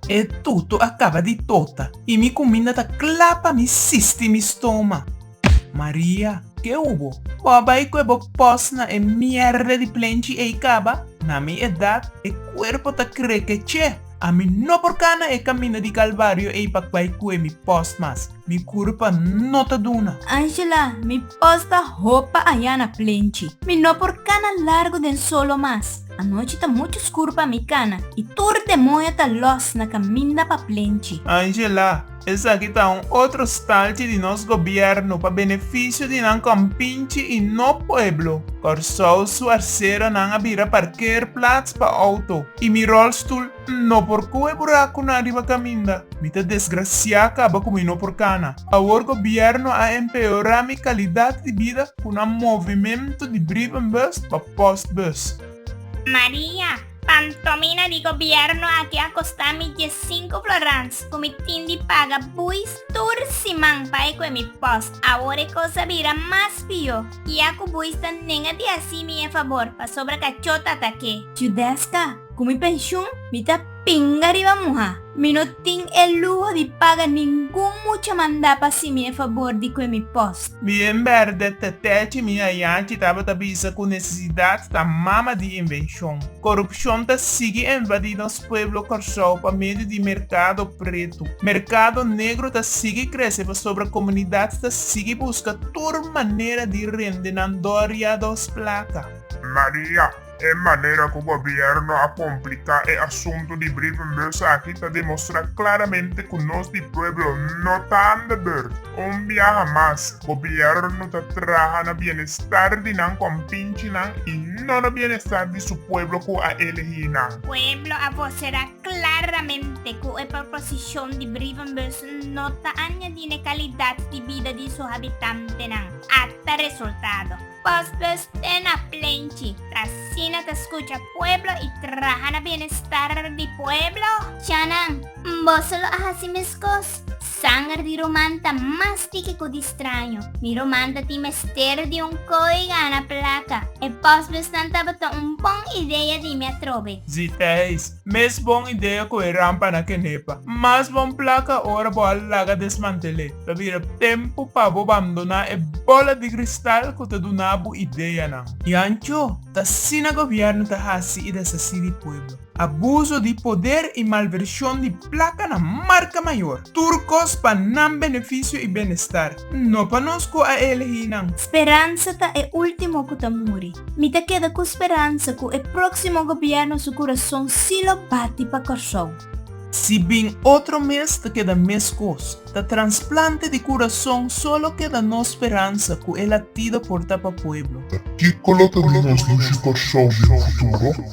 E tutu a kaba di tota i mi kuminda ta kla pa mi sisti mi stoma. Maria. Ke hu bo? Bo a bai ku e bo pos na e mièrda di plenchi ei kaba? Na mi edat e kuerpo ta kreke chè. Ami no por kana e kaminda di kalvario ei pa bai ku e mi pos mas. Mi kurpa no ta duna. Angela, mi pos ta hop pa ayana plenchi. Mi no por kana largu den solo mas. Anochi ta muchu skur pa mi kana i tur demoño ta lòs na kaminda pa plenchi. Angela, Esaki ta un otro stalchi di nos gobièrnu pa benefisio di nan kòmpinchi i no pueblo. Kòrsou su arseronan a bira parkeerplats pa outo i mi ròlstul N no por koe burak ku na riba kaminda. Mi ta desgrasiá kaba ku mi no por kana. Awor gobièrnu a empeorá mi kalidat di bida ku na movimentu di brievenbus pa postbus. Maria, Pantomina di gobièrnu aki a kostá mi diesinku florans ku mi tin di paga buis tur siman pa e koe mi post. Awor e kos a bira mas pió. Kia ku buis ta nega di hasi mi e fabor pasobra kachó ta ta ke. Judesca, Ku mi penshun mi ta pinga riba muha. Mi no tin e luho di paga ningun mucha mandá pa si mi e fabor di kue mi pos. Mi en berde ta tèchi mi ayanchi tabata bisa ku nesesidat ta mama di invenshon. Korupshon ta sigui envadí nos pueblo Kòrsou pa medio di merkado pretu. Merkado negro ta sigui krese pasobra komunidat ta sigui buska tur manera di rende nan dòria dos plaka. Maria, E manera ku gobièrnu a kompliká e asuntu di brievenbus aki ta demostrá klaramente ku nos di pueblo no ta an de beurt. Un biaha mas, gobièrnu ta traha na bienestar di nan kompinchinan i no na bienestar di su pueblo ku a elegí nan. Pueblo a voserá klaramente ku e proposishon di brievenbus no ta añadí n'e kalidat di bida di su habitantenan, ata resultado. Pos dus te na plenchi, t'asina ta skucha pueblo i traha na bienestar di pueblo? Chanan, boso lo a hasi meskos? Sanger di ruman ta mas tiki ku di straño. Mi ruman ta tin mester di un koi gana plaka. E postbusnan tabata un bon idea di mi atrobe. Zitijs, Mes bon idea cu e rampa na kenepa. Mas bon placa ora bo a laga desmantel'e. Ta bira tempo pa bo bandona e bola di cristal cu ta duna bo ideanan. Yancho, t'asina gobierno ta haci y deshaci di pueblo. Abuso di poder y malversion di placa na marca mayor. Tur cos pa nan beneficio y benestar. No pa nos ku a elehí nan. Speransa ta e último ku ta muri. Mi ta keda ku speransa ku e próksimo gobièrnu su kurason sí lo bati pa Kòrsou. Si bin otro mes ta keda meskos. Ta transplante di kurason solo keda nos speransa ku e latido por ta pa pueblo. Kiko lo ta di nos dushi Kòrsou den futuro?